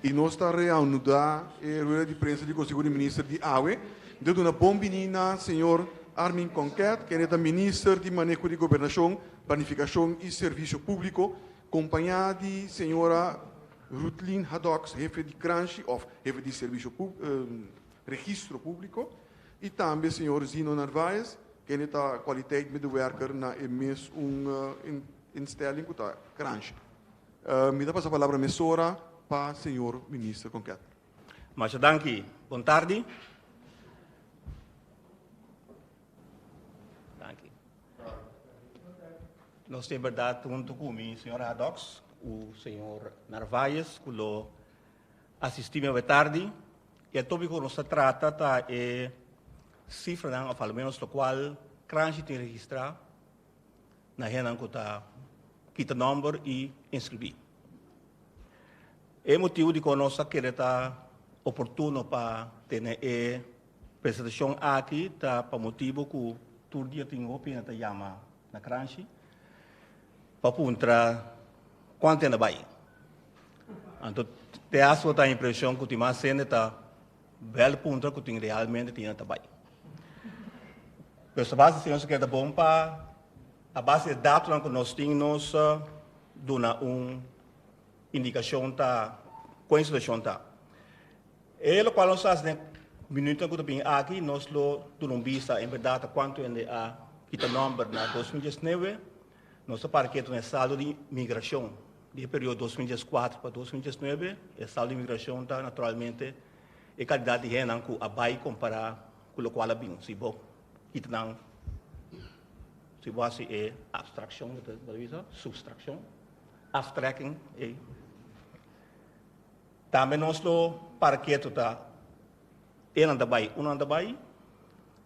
I nos ta reanuda e rueda di prensa di Conseho di Minister di awe. Mi ta duna bon bini na señor Armin Conquet, kende ta Minister di Maneho di Gobernacion, Planificacion y Servicio Publico, compaña di señora Ruthlin Hadoks, Hefe di Kranshi of Hefe di Servicio Registro Público, y tambe señor Zino Narváez, kende ta Kwaliteit Medewerker na e mes un instelling ku ta Kransha. Mi ta pasa palabra mesora pa señor Minister Con Kettler. Masha danki. Bon tardi. Danki. Nos tin berdad hunto cu mi señor Haddox cu señor Narváez cu lo. Asistime awe tardi y e topico cu nos ta trata ta e cifranan of alomenos locual cranshi tin registra na hendenan cu ta kita nomber y inscribi. E motibo dicon nos ta kere ta oportuno pa tene e presentacion aki ta pa motibo cu tur dia tin hopi hende ta yama. Na Kranshi pa puntra kuantu e na bai. Anto te aso ta impresion ku tin mas hende ta bel puntra ku tin realmente tin e ta bai. Pero sa basa si nos ta keda bon pa a basa e datonan ku nos tin nos duna un Indikashon ta kon e situashon ta. E lokual nos hasi den minutonan ku ta bini aki nos lo duna un bista en berdat ta kuantu hende a kita nòmber na dos mil diesnebe. Nos ta para ketu na e saldo di migrashon di e periodo dos mil dieskuater pa dos mil diesnuebe. E saldo di migrashon ta naturalmente e kantidat di hendenan ku a bai kompará ku lokual a bini. Si bo kita nan si bo hasi e abstrakshon, substrakshon. aftrekking ei. Tambe nos lo para ketu ta enan ta bai unan ta bai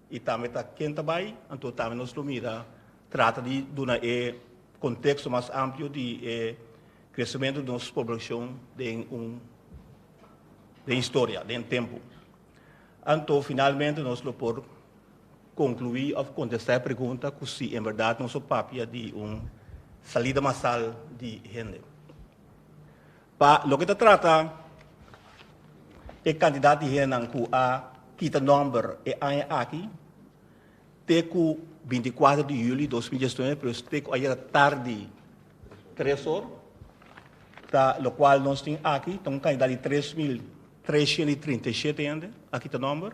y tambe ta ken ta bai anto tambe nos lo mira trata di duna e contexto mas amplio di e crecemento di nos poblacion den un den historia den tempo anto finalmente nos lo por Conclui of contesta e pregunta cu si en verdad nos a papia di un salida masal di hende. Pa loke ta trata e cantidad di hendenan cu a kita nomber e aña aki, te cu binti cuater di juli dos mil diesnuebe, pero es te cu ayera tardi tres or, ta locual nos tin aki ta un cantidad di tres mil treshent i trinta i shete hende a kita nomber.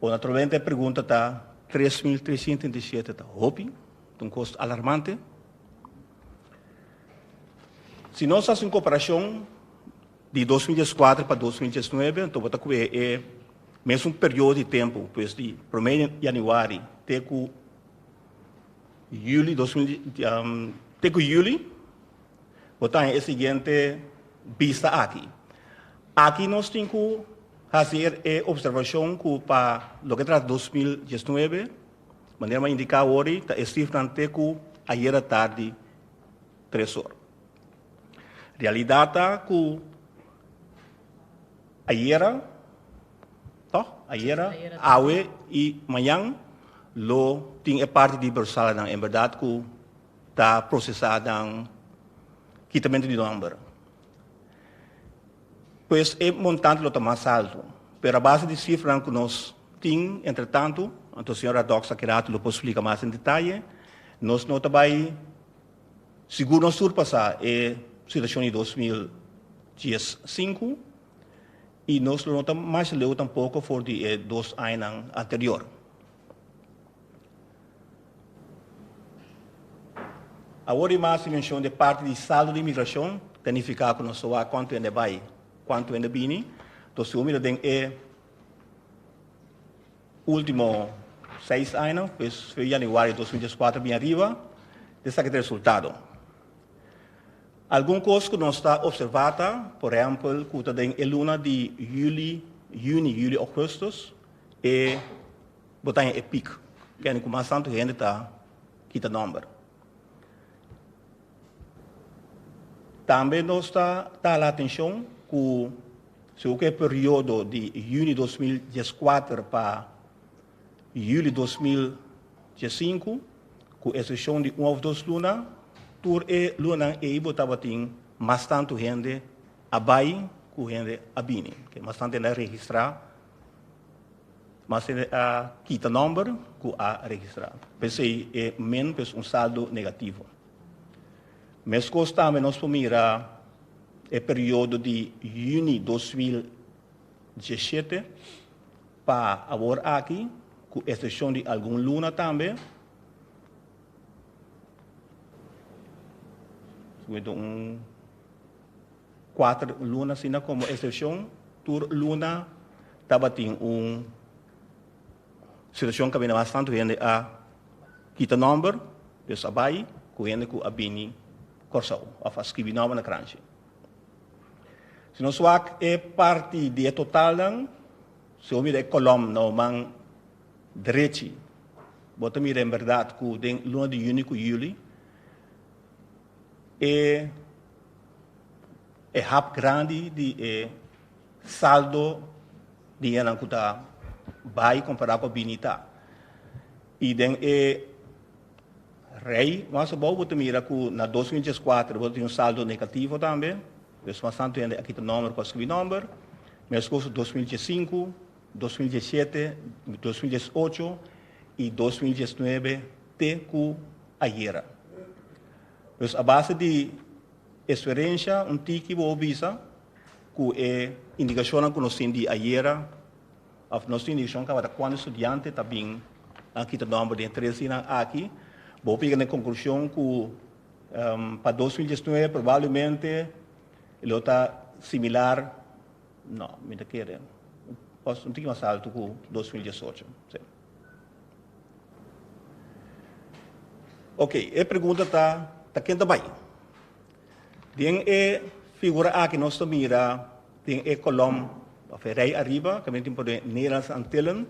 Bo naturalmente e pregunta ta, tres mil tresientu trenta i shete ta hopi, ta un kost alarmante. Si nos hasi un komparashon di dos mil dies kuater pa dos mil dies nuebe, anto bo ta kué e mesun periodo di tempu, pues di promé di yanüari te ku yuli dos mil te ku yuli Bo ta den e siguiente bista aki. Aki nos tin cu haci e observacion cu pa loke ta dos mil diesnuebe, manera mi a indica awori, ta e cifranan te cu ayera tardi tres or. Realidad ta cu ayera, toh? Ayera, awe y mañan lo tin e parti di Bersalannan. En berdad cu. Ta procesa den kitamento di nomber. Pues e montante lo ta mas alto. Pero a base di cifranan cu nos tin entretanto, anto señora Dox aki rato lo por splica mas en detaye, nos no ta bay sigur nos surpasa e situacion di dos mil dies sinku y nos lo no ta masha leu tampoco for di e dos añanan anterior. Awor di mas dimenshon den parti di saldo di imigrashon ta nifiká ku nos ta wak kuantu hende a bai, kuantu hende a bini. Enton si bo mira den e último seis aña, pues fue yanüari dos mil dieskuater a bini ariba, ta esaki ta e resultado. Algun kos ku nos ta opservá ta, por ehèmpel, ku ta den e luna di yüli, yüni, yüli, ògùstus, e. Bo taña e pik kende ku mas tantu hende ta kita nòmber. Tambe nos ta tala atenshon ku segun ku e periodo di yuni dos mil dies kuater pa yuli dos mil dies sinku, ku esepshon di un òf dos luna, tur e lunanan ei bo tabatin mas tantu hende a bai ku hende a bini. Ke mas tantu hende a registrá Mas e a kita nòmber ku a registrá. P'esei e min pues un saldo negativo. Meskos tambe nos por mira e periodo di yüni dos mil diesshete pa awor aki, ku esepshon di algun luna tambe. Su mi ta un. Kuater luna asina komo esepshon, tur luna tabatin un situashon ku a bini bastante ku hende a kita nòmber, Dios a bai ku hende ku a bini Kòrsou òf a skibi nòmber na kranchi. Si nos wak e parti di e totalnan, si bo mira e kolòm na bo man derechi, bo ta mira en bèrdat ku den luna di yuni ku yuli e E hap grandi di e saldo di hennan ku ta bai kompará ku a bini ta. I den e rei mas abou bo ta mira ku na dos mil dies kuater bo ta tin un saldo negativo tambe, pues mas tantu hende a kita nòmber ku a skirbi nòmber. Mes kos dos mil dies sinku, dos mil dies shete, dos mil dies ocho i dos mil dies nuebe te ku ayera. Nos a base di experiencia un tiki bo bisa cu e indicacionnan cu nos tin di ayera of nos tin indicacionnan tabata cuantu estudiante ta bin a kita nomber den e tres dinan aki bo por yega na e conclusion cu pa dos mil diesnuebe probablemente lo ta similar no mi ta kere un tiki mas alto cu dos mil diesocho. Ok, e pregunta ta, ta ken ta bai? Den e figura aki nos ta mira den e kolom òf e rei ariba, ta mira tin por den Nederlandse Antillen,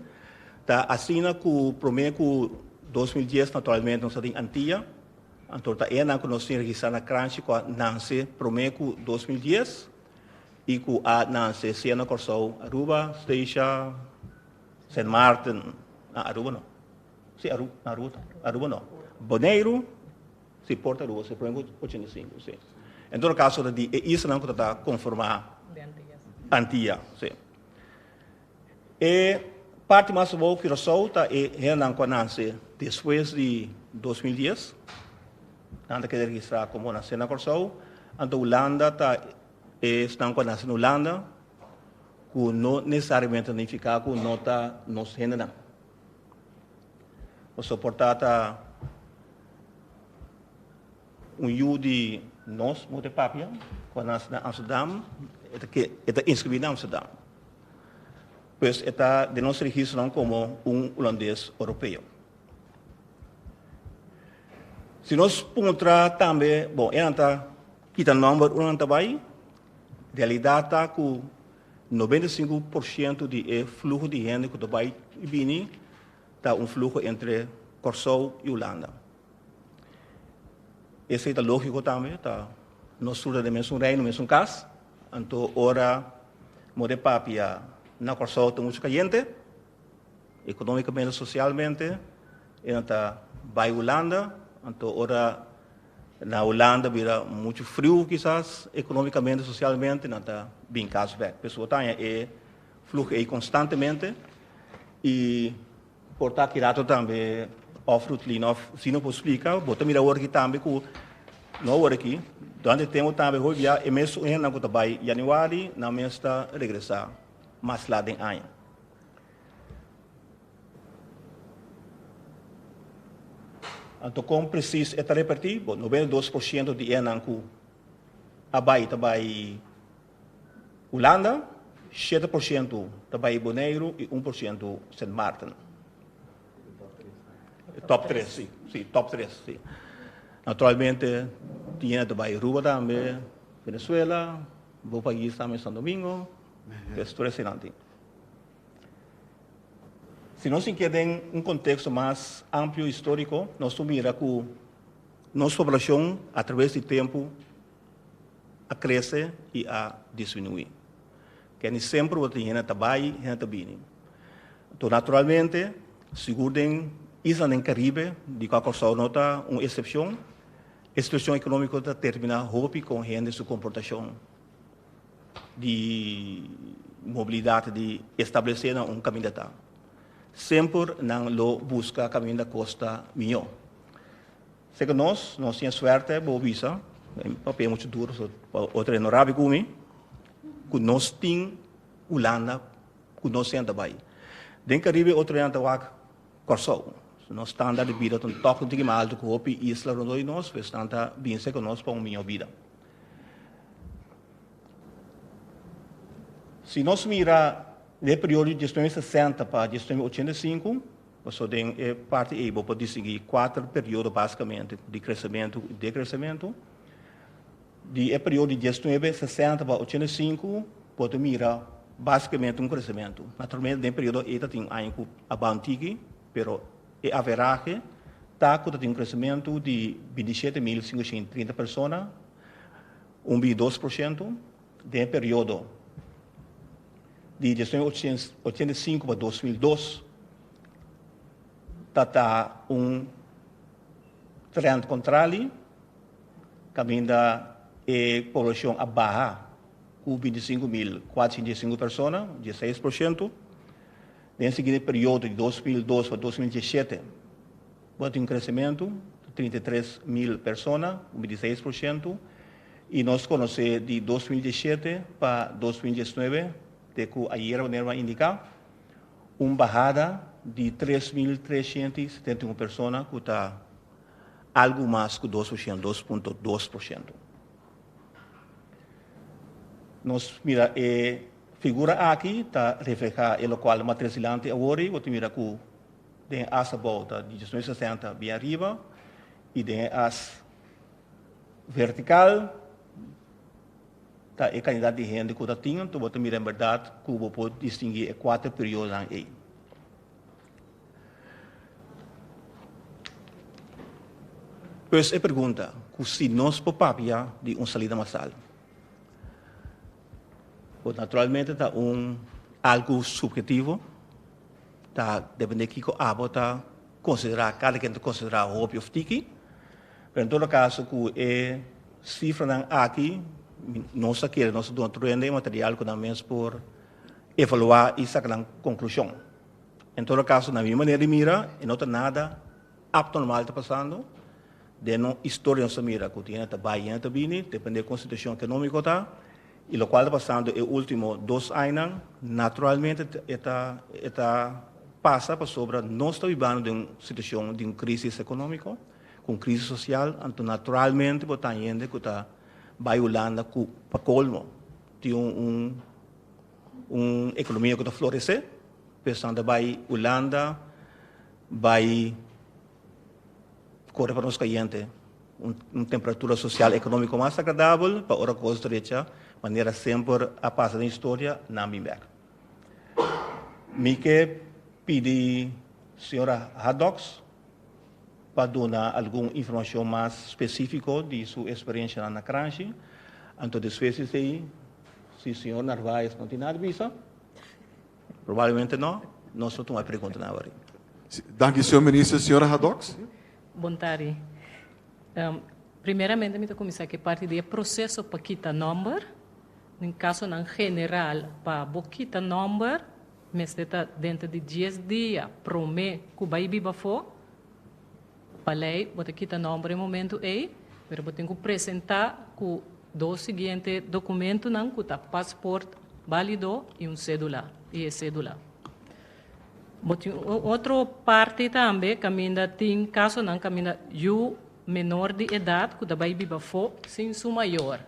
ta asina ku promé ku dos mil dies naturalmente nos ta tin Antia, anto ta enan ku nos tin registrá na Kranchi ku a nanse promé ku dos mil dies i ku a nanse sea na Kòrsou, Aruba, Steisha, Sint Maarten na Aruba no. Si Aru na Aruba ta. Aruba no. Boneiru, si Port Aruba se pone ku ochenta i sinku, si. En todo kaso ta di e islanan ku tabata konformá Antia, si. E parti mas abou Kurosou ta e hendenan ku a nase despues di dos mil dies. Nan ta keda registrá komo nase na Kòrsou. Anto Hulanda ta esnan ku a nase na Hulanda. Ku no nesesariamente ta nifiká ku no ta nos hendenan. Pasobra por tata un yu di nos bo ta papia ku a nase na Amsterdam, e ta inskribí na Amsterdam. Pues e ta den nos registronan komo un Hulandes Oropeo. Si nos puntra tambe, bon, enan ta. Kita nòmber unda nan ta bai? Realidat ta ku nobenta i sinku por sientu di e fluho di hende ku ta bai i bini ta un fluho entre Kòrsou i Hulanda. Esei ta lógiko tambe, ta nos tur ta den mesun reino, mesun kas. Anto ora more papia na Kòrsou ta muchu kayente, ekonómikamente, sosialmente, e nan ta bai Hulanda. Anto ora Na Hulanda bira muchu friu kisas economicamente, socialmente nan ta bin cas bek. P'eso bo ta haña e fluch ey constantemente y por ta aki rato tambe of Ruthlina of Zino por splica, bo ta mira awor aki tambe cu no awor aki, durante e tempo tambe hopi bia e mes un hendenan cu ta bay Januari nan mes ta regresa mas laat den aña. Anto kon presis e ta reperti? Bo, noventa i dos por siento di enan ku a bai ta bai Hulanda, shete por siento ta bai Boneiru i un por siento Sint Maarten. E top tres, si. Si, top tres, si. Naturalmente tin yende ta bai Aruba tambe, Venezuela, bo pais tambe Santo Domingo, e tur eseinan tin. Si nos tin ke den un konteksto mas amplio historiko nos por mira ku nos poblashon a traves di tempu a krese i a disminuí. Keni semper tabata tin hende ta bai i hende ta bini. Enton naturalmente sigur den islanan den Karibe di kua Kòrsou no ta un esepshon e situashon ekonómiko ta terminá hopi kon hende su komportashon. di mobilidat di establesé nan un kaminda ta semper nan lo buska kaminda kosta miñó. Seke nos, nos tin e suerte, bo bisa, papia muchu duro so pa otro e no rabi ku mi, ku nos tin Hulanda ku nos senta bai. Den Karibe otronan ta wak Kòrsou. Nos standaard di bida ta un tòk un tiki mas altu ku hopi isla rondó di nos, pues nan ta bin seke nos pa un miñó bida. Si nos mira den e periodo di dies nueve sesenta pa dies nueve ochenta y cinco, pasobra den e parti ei bo por distingui kuater periodo basikamente di kresementu ku dekresementu. Di e periodo di dies nueve sesenta pa ochenta y cinco bo ta mira basikamente un kresementu. Naturalmente den e periodo ei tatin aña ku a ban tiki pero E averahe ta ku ta tin un kresementu di binti i shete mil sinkushenta i trinta persona, un bin i dos por shento, den e periodo di dies nueve ochenta i sinku pa dos mil dos. Ta ta un trènt kontrali kaminda e poblashon a baha ku binti i sinku mil kuatrocientos dies i sinku persona, dies seis por shento. Den e siguiente periodo di dos mil dos pa dos mil diesete bo ta tin un cresementu di trinta i tres mil persona, un binti seis por ciento, y nos conoce di dos mil diesete pa dos mil diesnuebe, te cu ayera wanneer bo a indica, un bahada di tres mil tresciento y setenta y un persona cu ta algo mas cu dos por ciento, dos punto dos por ciento. Nos mira e. Figura aki ta reflehá e lokual di matres dilanti awor ei, bo ta mira ku den e as abou ta dieziocho mil sesenta bien ariba i den e as vertikal ta e kantidat di hende ku ta tin. Anto bo ta mira en berdat ku bo por distinguí e kuater periodonan ei. Pues e pregunta ku si nos por papia di un salida masal. Bo naturalmente ta un algu subjetivo, ta depende kiko abo ta konsiderá, kada kende ta konsiderá hopi òf tiki. Pero en todo kaso ku e sifranan aki nos ta kere nos ta duna tur hende e material ku nan mes por evaluá i saka nan konklushon. En todo kaso, na mi manera di mira, e no ta nada Abnormal ta pasando. Den nos historia nos a mira cu tin hende ta bay, tin hende ta bini, depende con situacion economico ta. Y locual ta pasando e ultimo dos añanan, naturalmente e ta e ta pasa pasobra nos ta bibando den un situacion di un crisis economico, cu un crisis social. Anto naturalmente por taña hende cu ta bay Hulanda cu pa colmo tin un un un economia cu ta florece. Pues anto bay Hulanda Bai kore pa nos kayente un temperatura sosial ekonomiko mas agradabel pa ora kos drecha manera semper a pasa den historia nan bin bek. Mi ke pidi señora Haddox pa duna algun informashon mas spesifiko di su eksperienshanan na Kranshi, anto despues di esei si señor Narvaez no tin nada bisa. Probablemente no. Nos lo tuma e pregunta nan awor. Danki señor minister. Señora Hadoks. Bon tardi. Primeramente mi ta cuminsa cu e parti di e proceso pa kita nomber. Den casonan general pa bo kita nomber mester ta denter di dies dia prome cu bay biba afo. Pa lei bo ta kita nomber e momentu ei, pero bo tin ku presentá ku dos siguiente dokumentunan ku ta pasport bálido i un sédula i e sédula. Bo tin un otro parti tambe kaminda tin kasonan kaminda yu menor di edat ku ta bai biba afó sin su mayor.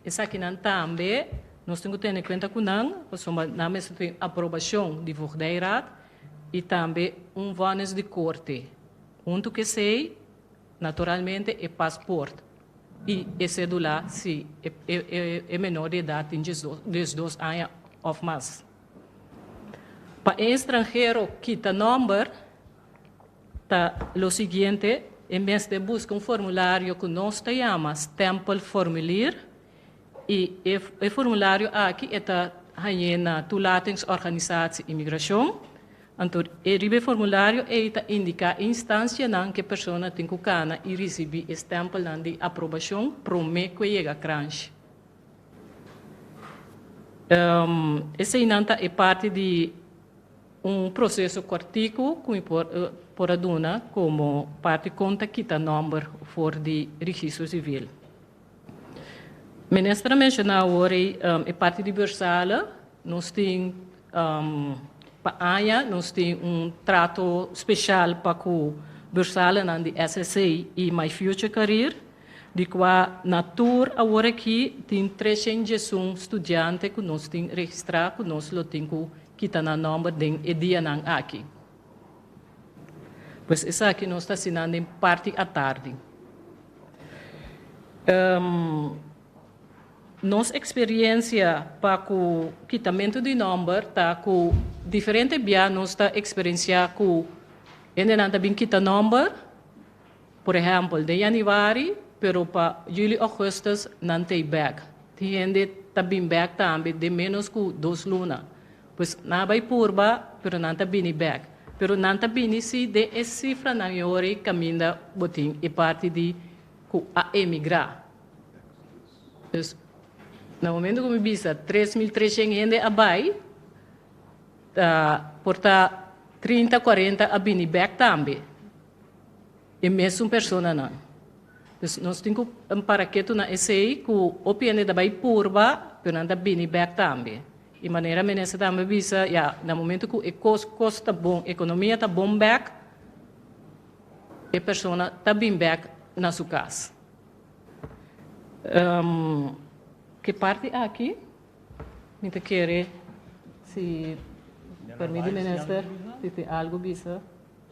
Esakinan tambe nos tin ku tene kuenta ku nan pasobra nan mester tin aprobashon di voogdijraad i tambe un vonnis di korte. Huntu ku esei, naturalmente e pasport i e sedulá si e menor di edat tin diesdos aña òf mas. Pa e estranhero kita nòmber. Ta lo siguiente, e mes deb busca un formulario cu nos ta yama stempel formulier y e formulario aki e ta hañe na toelatingsorganisatie Immigracion. Anto e riba e formulario ey ta indica e instancianan cu e persona tin cu cana y ricibi e stempelnan di aprobacion prome cu e yega cranch. Eseynan ta e parti di. Un proseso cortico cu mi por a duna como parti con ta kita nomber for di registro civil. Minister a menciona awor ei e parti di Bersala nos tin pa aña nos tin un trato special pa cu Bersalanan di SSA y My Future Career. Di kua na tur awor aki tin treshenjesun studiante ku nos tin registrá ku nos lo tin ku kita nan nòmber den e dianan aki. Pues esaki nos ta hasi nan den parti atardi. Nos eksperiensia pa ku kitamentu di nòmber ta ku diferente bia nos ta eksperensiá ku hendenan ta bin kita nòmber Por ehempel, den Januari, pero pa Juli, Augustus nan ta ei bek. Tin hende ta bin bek tambe den menos ku dos luna. Pues nan a bai purba, pero nan ta bini bek. Pero nan ta bini si den e sifranan ei ora kaminda bo tin e parti di ku a emigrá. Pues na momento ku mi bisa tres mil treshent hende a bai, ta por ta trinta, kuarenta a bini bek tambe. E mesun personanan. Dus nos tin ku para ketu na esei ku hopi hende ta bai purba, pero nan ta bini bèk tambe. I manera minister tambe a bisa, ya, na momentu ku e kos kos ta bon, ekonomia ta bon bèk, e persona ta bin bèk na su kas. Ke parti aki mi ta kere si pèrmit di minister si tin algu bisa.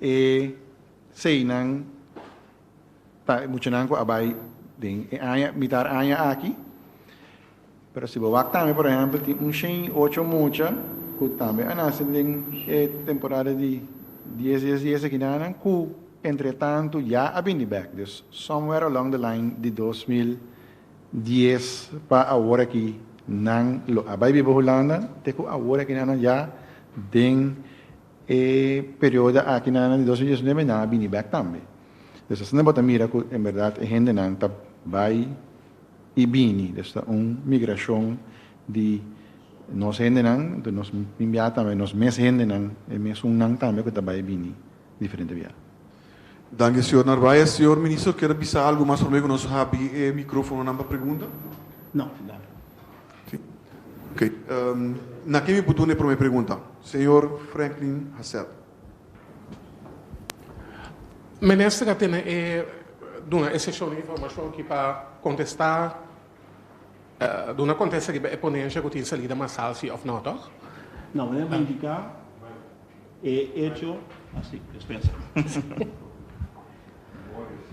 E seinan ta e muchanan cu a bay den e aña, mitar aña aki. Pero si bo wak tambe, por ehempel, tin un shen y ocho mucha cu tambe a nace den e temporada di dies, dies, dies akinanan cu entretanto ya a bini bek. Dus somewhere along the line di dos mil dies pa awor aki nan lo a bay biba Hulanda te cu awor akinanan ya den. E perioda aki na di dos mil diesnove nan a bini bek tambe. Des ta esnan bo ta mira cu en berdad e hendenan ta bay y bini. Des ta un migracion di nos hendenan, entonces nos tin bia tambe nos mes hendenan, e mes un nan tambe cu ta bay y bini diferente bia. Danki señor Narvaez. Señor Minister kier a bisa algo mas promé ku nos habri e mikrofononan pa pregunta? No, danki. Si. Ok. Na ken mi por duna e promé pregunta? Señor Franklin Hassell. Minister a tene e duna e seshon di informashon aki pa kontestá, duna kontesta riba e ponensha ku tin salida masal si òf no, tòg? No, meneer Madiga. E echo a si despensa.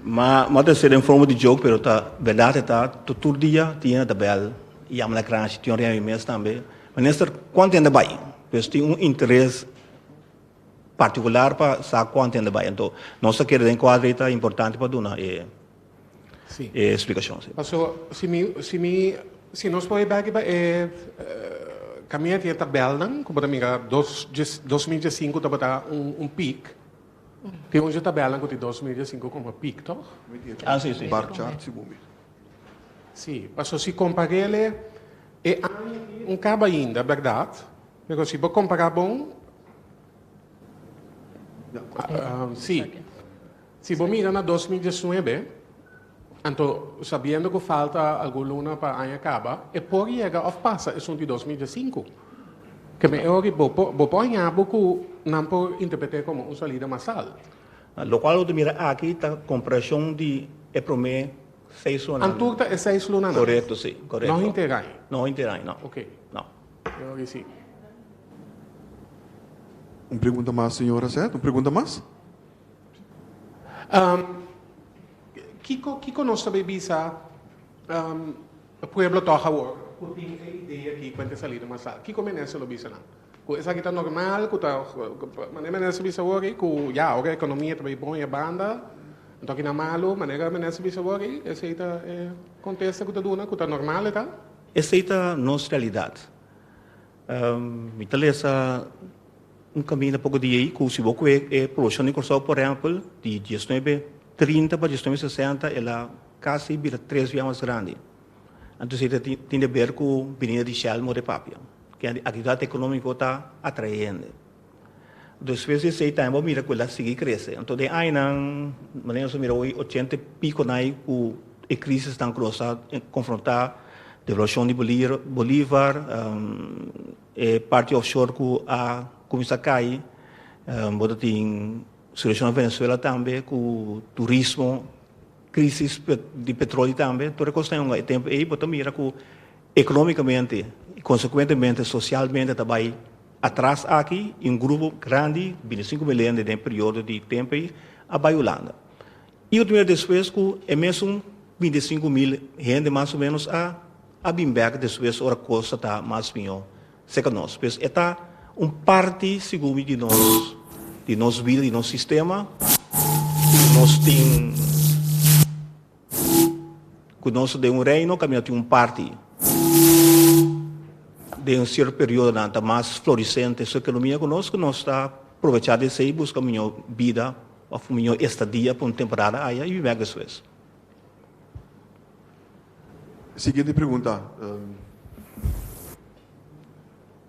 Ma ma ta ser den forma di joke pero ta berdad e ta to tur dia Tina ta bel yama na cranchi tin oria mi mes tambe minister cuanto hende bai pues tin un interes particular pa sa cuanto hende bai ento nos ta kere den cuadro ei ta importante pa duna e Sí. E explicacion, sí. Paso, si mi, si mi, si nos poi beki pa e camia tin e tabelnan, cu bo ta mira dos, dos mil diesinco tabata un, un pic. Tin un tabelnan cu tin dos mil diesinco como pic, toch? Ah, sí, sí. Bar chart, si bo mi. Sí, paso si comparele e aña aki no caba ainda, berdad? Pero si bo compara bon, sí. Si bo mira na dos mil diesnuebe, anto sabiendo cu falta algun luna pa aña caba, e por yega of pasa esun di dos mil diesinku. Keme e ori bo por, bo por haña bo cu nan por interpret'e como un salida masal. Locual bo ta mira aki ta comparacion di e prome seis lunanan. Antur ta e seis lunanan. Correcto, si. Correcto. No henter aña. No henter aña, no. Ok. No. E ori si. Un pregunta mas, señora Seth? Un pregunta mas? Kiko kiko nos ta bay bisa pueblo tog awor cu tin e idea aki cu e ta sali di Masal? Kiko minister lo bisa nan? Cu esaki ta normal cu ta manera minister bisa wor cu ya ora economia ta bay bon e banda anto aki nan malo manera minister bisa wor esey ta e contesta cu ta duna cu ta normal eta? Esey ta nos realidad. Mi ta lesa un kaminda poko di ei ku si bo kue e polushon di Kòrsou por ehèmpel di diesnuebe trinta pa diesnuebe sesenta el a kasi bira tres bia mas grandi. Anto esei ta tin di aber ku bininda di Shell mor e papia. Kende aktividat ekonómiko ta atrae hende. Despues di esei tambe bo a mira cu el a sigui crece. Anto den añanan, manera nos a mira hoy, ochenta y pico nan ay cu e crisisnan cu nos a confronta, devaluacion di bolier, bolivar, e parti offshore cu a cuminsa cay, bo ta tin situacion na Venezuela tambe cu turismo, crisis di petroli tambe, tur e cosnan hunga. E tempo ey bo ta mira cu economicamente y consecuentemente socialmente ta bay. Atras aki i un grupo grandi bini sinku belende den e periodo di tempu ei a bai Hulanda. I yu ta mira despues ku e mesun binti sinku mil hende mas o menos a a bin bèk despues ora kos ta ta mas mihó serka nos. Pues e ta un parti segun mi di nos di nos bida, di nos sistema ku nos tin. ku nos ta den un reino kaminda tin un parti den sierto periodonan ta mas florisente su ekonomia ku nos, ku nos ta provechá di esei buska miñó bida òf un miñó estadia pa un temporada aya i bibé despues. Siguiente pregunta.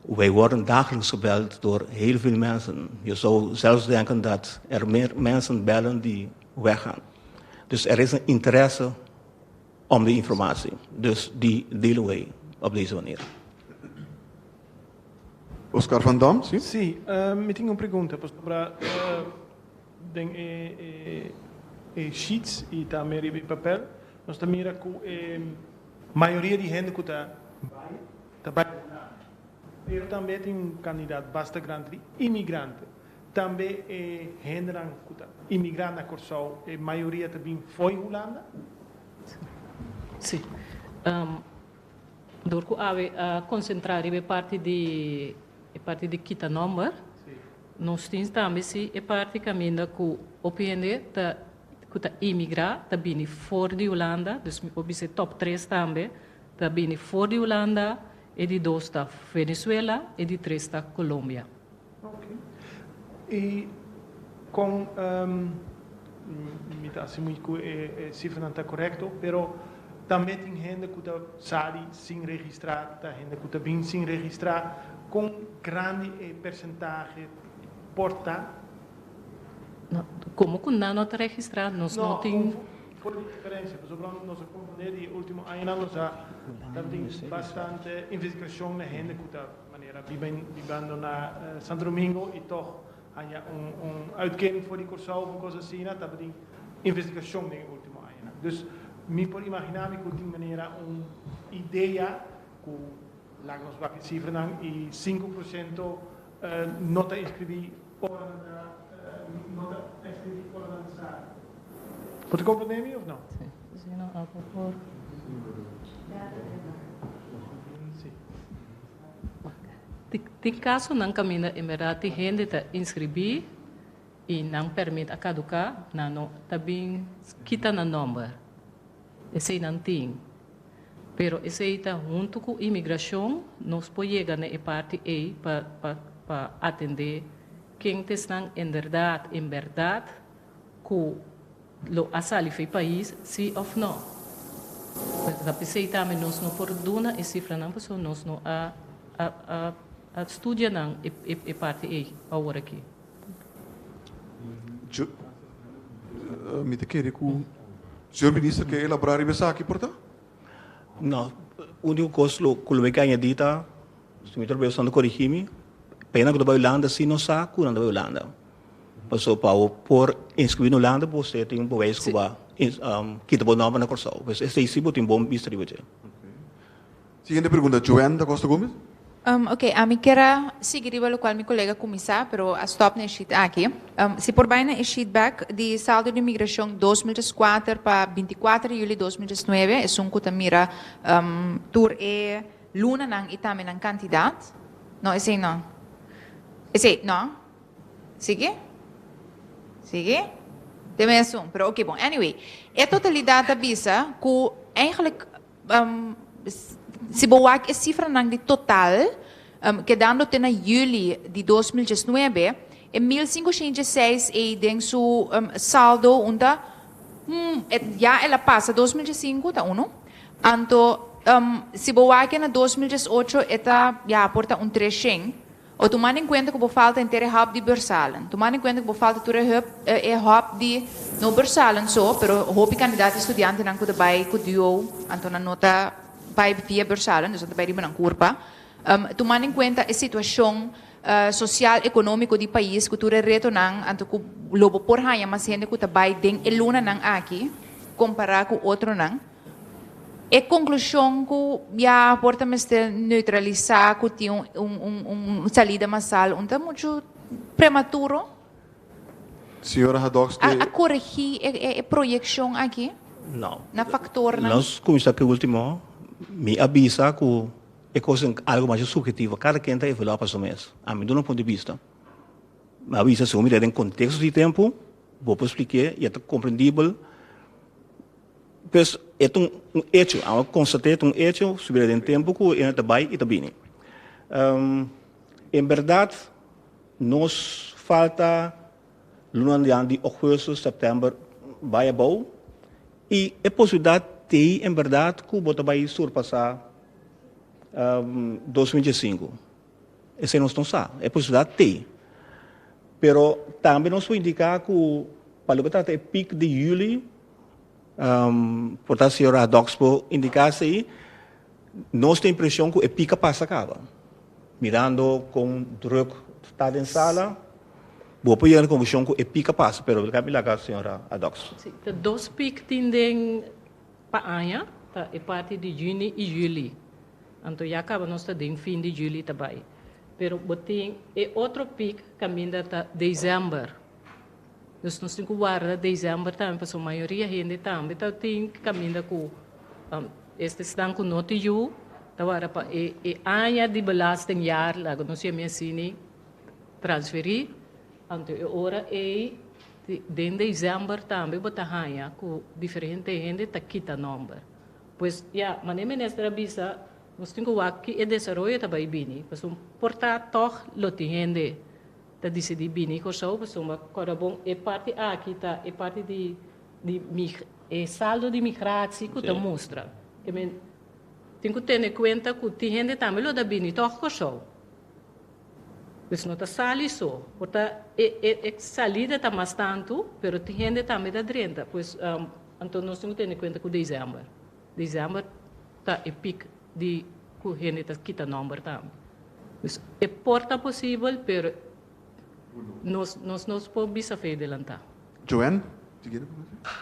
Wij worden dagelijks gebeld door heel veel mensen. Je zou zelfs denken dat er meer mensen bellen die weggaan. Dus er is een interesse om die informatie. Dus die delen wij op deze manier. Oscar van Dam, sí? Sí, ehm, mi tin un pregunta, pasobra den e e sheets y tambe riba e papel nos ta mira cu e mayoria di hende cu ta bay, ta bai un lado, pero tambe tin un cantidad basta grandi di inmigrante. Tambe e hendenan cu ta imigra na Corsou e mayoria ta bin fo'i Hulanda? Si. Dor cu awe a concentra riba e parti di e parti di kita nomber, nos tin tambe si e parti caminda cu hopi hende ta cu ta imigra ta bini for di Hulanda, dus mi por bisa e top tres tambe Ta bini for di Hulanda, e di dos ta Venezuela, e di tres ta Colombia. Ok. Y con mi ta asegura cu e cifranan ta correcto, pero tambe tin hende cu ta sali sin registra, ta hende cu ta bin sin registra, con grandi e percentahe por ta? Como cu nan no ta registra, nos no tin. Por di diferensia, pasobra nos a komprendé di e último añanan nos a ta tin bastante investigashon na hende ku ta manera biba bibando na Santo Domingo i tòg haña un uitkering for di Kòrsou òf un kos asina, tabatin investigashon den e último añanan. Dus mi por imaginá mi ku tin manera un idea ku laga nos wak e sifranan i sinku por siento no ta inskribí, Bo ta komprendé mi of no? Tin kasonan kaminda en berdad tin hende ta inskribí i nan pèrmit a kaduká, nan no ta bin kita nan nòmber. Eseinan tin. Pero esei ta huntu cu inmigracion, nos por yega na e parti ey pa pa atende ken ta esnan en berdad, en berdad cu lo a sali for e pais si of no. Ta p'esey tambe nos no por duna e cifranan pasobra nos no a a a studia nan e parti ey awor aki. Mi ta kere ku señor minister ke elabora riba esaki por ta? No, úniko kos lo ku lo mi ke añadí ta, si mi ta robeo esnan ta korigí mi, payanan ku ta bai Hulanda asi no sa ku nan ta bai Hulanda. Pasobra pa bo por inskribí na Hulanda bo mester tin bo beis ku bo a kita bo nòmber na Kòrsou. Pues esei si bo tin bon bista riba dje. Siguiente pregunta Joan da Costa Gomez. Um, ok, ami kier a sigui riba lokual mi kolega kuminsá, pero a stòp na e sheet aki. Um, si por bai na e sheet bèk di saldo di migrashon dos mil dies kuater pa binti kuater di yuli dos mil dies nuebe, esun ku ta mira um, tur e lunanan i tambe nan kantidat. No, esei no. Esei, no. Sigui? Sigui? Te me esun, pero ok bon. Anyway, e totalidat ta bisa ku eigenlijk Si bo wak e sifranan di total, kedando te na yüli di dos mil diesnuebe, e mil singoshientj e seis ei den su saldo un ta ya el a pasa dos mil diesinku, ta unu, anto si bo wak e na dos mil diesocho e ta ya por ta un treshent, O tumando en kuenta ku bo falta henter e hòp di Bersalen. Tumando en kuenta ku bo falta tur e hòp e hòp di, no Bersalen so, pero hopi kandidat estudiantenan ku ta bai ku DUO anto nan no ta bai via Bersalen, dus nan ta bai riba nan kurpa. Tumando en kuenta e situashon sosial, ekonómiko di pais ku tur e retonan anto ku lo bo por haña mas hende ku ta bai den e lunanan aki kompará ku otronan. E conclusion cu ya por ta mester neutralisa cu tin un, un, un, un salida masal un ta mucho prematuro. Señora Hadoks, A, a corregi e, e, e proyeccion aki No. na factornan. Nos cuminsa pe ultimo. Mi a bisa cu e cosa en algo masha subjetivo. Cada ken ta evalua pa su mes. Ami duna un punto di bista. Mi a bisa segun mira den contexto di tempo, bo por spliké y a ta comprendibel. Pues, e ta un echo, amo constat'é, e ta un echo, subir'é den tempo cu e no ta bai i ta bini. Um, en berdad, nos falta lunan di anti o hueso, september, bai abou, i e posibilidad t'ei en berdad cu bo ta bai surpasá, um, dos mil dies singu. Esei nos no sa. E posibilidat t'e. Pero tambe nos por indica cu pa lo cu trata e pic di juli, por ta Señor Hadoks por indica esei, nos ta impresion cu e pic a pasa caba. Mirando con druk ta den sala, bo por yega den conclusion cu e pic a pasa, pero lo cu mi laga Señor Hadoks. Si, ta dos pic tin den Pa aña ta e parti di juni y juli. Anto ya caba nos ta den fin di juli ta bay. Pero bo tin e otro pic caminda ta december. Dus nos tin cu warda december tambe pasobra mayoria hende tambe ta tin caminda cu este stan cu no tin yu. Ta warda pa e e aña di belasting jaar laga nos yami asini transferi. Anto e ora ey Den december tambe bo ta haña cu diferente hende ta kita nomber. Pues ya, manera e minister a bisa, nos tin cu wak ki e desaroyo ta bay bini, pasobra por ta tog lo tin hende ta dicidi bini Cor-sou, pasobra acorda bon e parti aki ta e parti di e saldo di migratie cu ta mustra. Tin cu tene cuenta cu tin hende tambe lo ta bini tog Cor-sou. Pues no ta sali so, por ta e e e salida ta mas tantu, pero tin hende tambe ta drenta, pues anto nos tin cu tene cuenta cu december, december ta e pic di cu hende ta kita nomber tambe. Pues e por ta posibel pero nos nos nos por bisa fe delanta. Joanne, si kier kominsá.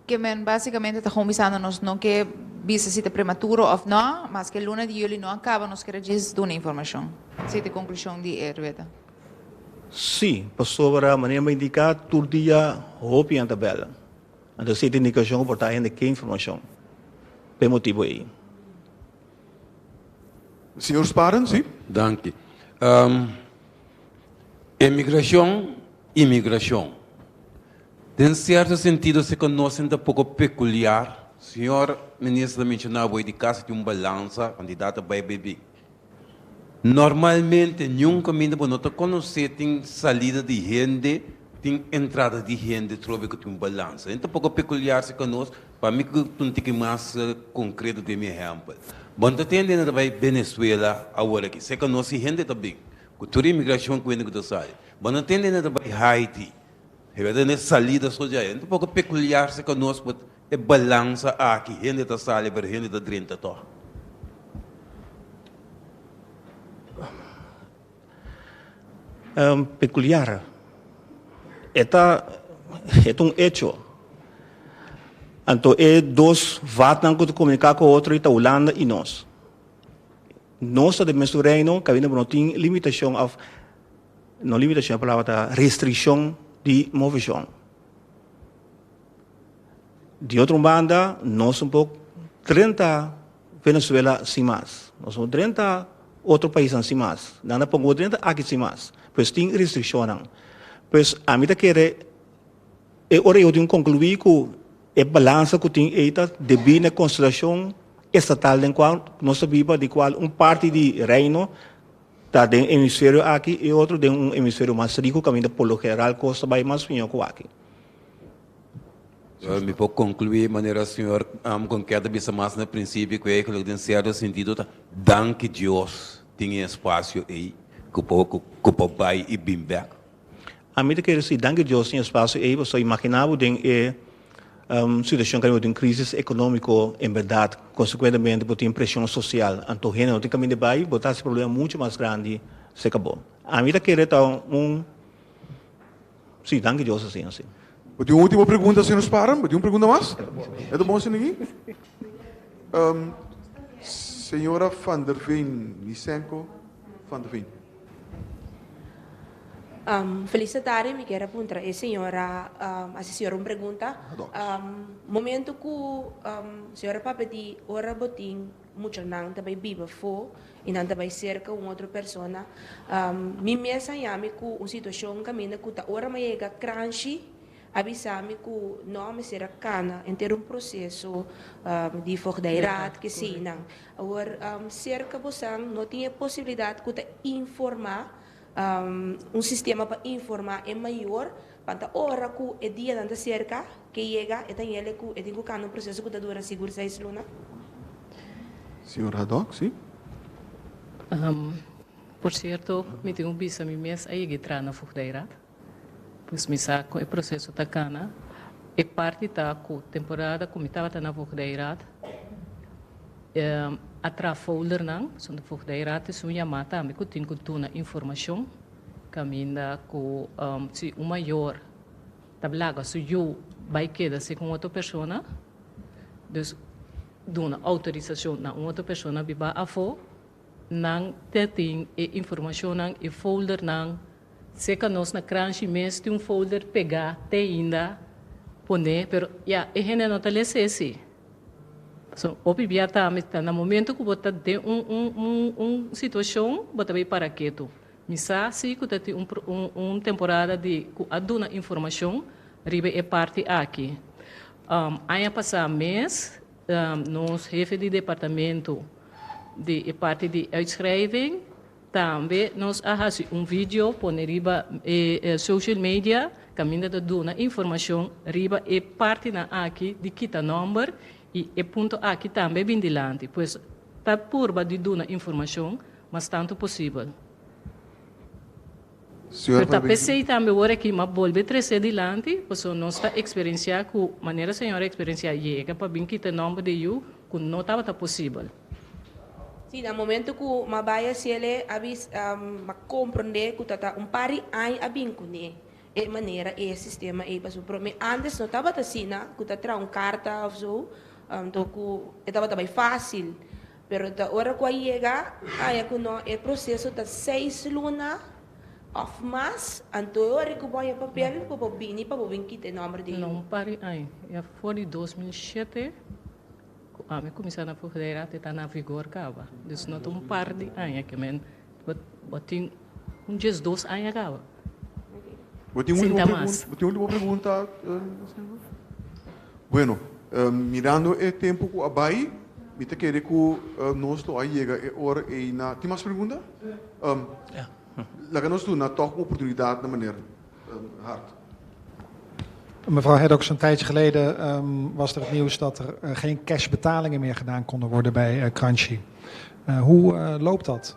Ke men básikamente ta kon bisando nos no ke bisa si ta prematuro òf nò, maske luna di yuli no a kaba nos kere djis duna informashon. Si ta e konklushon di e rueda. Sí, pasobra manera mi ta indiká tur dia hopi hende ta bèl. Anto si ta e indikashon ku por ta hende ke informashon pa e motibu ei. Señor Sparan, sí. Danki. E migrashon i migrashon. Den sierto sentido se konosen ta poko pekuliar. Señor Minister ta menshoná awe di kas di un balansa, kantidad ta bai bai bin. Normalmente niun kaminda bo no ta konosé tin salida di hende, tin entrada di hende trobe ku tin un balansa. Enta poko pekuliar si konos Pa mi cu ta un tiki mas concreto den mi ehempel. Bon ta tende na ta bay Venezuela awor aki. Seca nos si hende ta bin cu tur inmigracion cu hende cu ta sali. Bon ta tende na ta bay Haiti. E verdad no e salida so djai. Enta poco peculiar seca nos but e balansa aki hende ta sali pero hende ta drenta toh. Pekuliar. E ta e ta un hecho. Anto e dos vatnan ku ta komuniká ku otro ta Hulanda i nos. Nos ta den mesun reino kaminda bo no tin limitashon òf no limitashon e palabra ta restrikshon di moveshon. Di otro banda nos tambe trenta. Venezuela sin mas. Nos no drenta otro paisnan sin mas. Nan ta pon bo drenta aki sin mas. Pues tin restriccionnan. Pues ami ta kere e ora ei bo tin conclui cu e balansa cu tin ei ta debi na e constelacion estatal den cual nos ta biba di cual un parti di Reino ta den hemisferio aki y otro den un hemisferio mas rico caminda por lo general cos ta bay mas miño cu aki. Well, mi por conclui manera Señor am con keda bisa mas na principio cu e geloofden cierto sentido ta danki Dios tin e espacio ey cu por cu por bay y bin bek. Ami ta kere si danki Dios tin e espacio ey pasobra imagina bo den e um situacion cu ami bo tin crisis economico en berdad consecuentemente bo tin presion social anto hende no tin caminda bay bo ta haci problema mucho mas grandi seca bo. Ami ta kere ta un. Sí, danki Dios a siña así. Bo tin un último pregunta señor Sparren? Bo tin un pregunta mas? E ta bon así niki? Señora Van der Veen, Lysenko Van der Veen. Feliz ta tarde, mi kier a puntra e señora, hasi señora un pregunta. Momento ku señora Pape di ora bo tin. Muchanan ta bai biba afó i nan ta bai serka un otro persona. Mi mes a yami ku un situashon kaminda ku ta ora m'a yega kranshi, a bisa mi ku nò mester a kana henter un proseso di vogdheidrat, kesinan. Awor, serka bosan no tin e posibilidat ku ta informá Un sistema pa informá e mayor pa ta ora ku e dianan ta serka, ke yega e ta yele ku e tin ku kanda un proseso ku ta dura sigur seis luna. Señor Haddock, si. Por sierto, mi tin ku bisa mi mes a yeg'é traha na Voogdijraad. Pues mi sa ku e proseso ta kana. E parti ta ku temporada ku mi tabata na Voogdijraad, E atra foldernan son di Voogdijraad es un yamá tambe ku tin ku duna informashon kaminda ku si un mayor ta blaga su yu bai keda si ku un otro persona, dus duna outorisashon na un otro persona biba afó. Nan te tin e informashonnan, e foldernan. Seka nos na Cranchi mes tin un folder pegá t'ainda pone, pero ya e hende no ta lesa esei. So, hopi bia ta mi ta na momento ku bo ta den un un un un situashon bo ta bai para ketu. Mi sa si ku ta tin un pro un un temporada di ku a duna informashon riba e parti aki. Aña pasá mes. Nos hefe di departamento di e parti di uitschrijving tambe nos a hasi un video pone riba e social media caminda ta duna informacion riba e partinan aki di kita nomber y e punto aki tambe bin dilanti pues ta purba di duna informacion mas tanto posibel. Pero ta pesey tambe ora e klima bolbe trese dilanti, pasobra nos ta eksperensiá ku manera Señor a eksperensiá yega pa bin kita nòmber di yu ku no tabata posibel. Sí, na momento ku m'a bai a Shele a bis m'a komprondé ku ta ta un par di aña a bin kuné e manera ei, e sistema ei pasobra promé ántes no tabata asina ku ta traha un karta òf so, anto ku e tabata bai fásil. Pero ta ora cu a yega aya cu no e proceso ta seis luna of mas anto e ora cu bo ya papel pa bo bini pa bo bin kita e nomber di yu. Pari aña ya for di dos mil shete cu ami cuminsa na Frontera te ta na vigor caba. Dus no ta un par di aña que men bo tin. Un dies dos aña kaba. Bo tin un ultimo pregunta, Seigneur? Bueno, mirando e tempo cu a bay, mi ta kere cu nos lo a yega e ora ey na, tin mas pregunta? Laga nos duna toch un oportunidad na Meneer Hart. Mevrouw Heddox, een tijdje geleden was er het nieuws dat er geen cash betalingen meer gedaan konden worden bij Kranjci. Hoe loopt dat?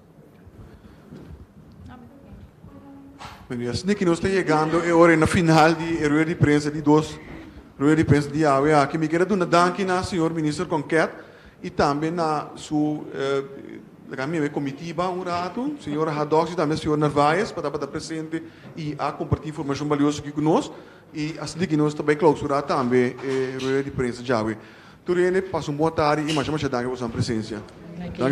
Bueno, ya sneaky nos ta yegando e ora na final di e rueda di prensa di dos rueda di prensa di awe aki. Mi keda duna danki na señor Minister Conquet y tambe na su eh, laga mi e comitiba un rato, señor Hadoks y tambe señor Narvaez pa tabata presente y a comparti informacion balioso aki cu nos. Y a sneaky nos ta bay clausura tambe e rueda di prensa djawe. Tur hende pasa un bon tarde y masha masha danki pa boso nan presencia.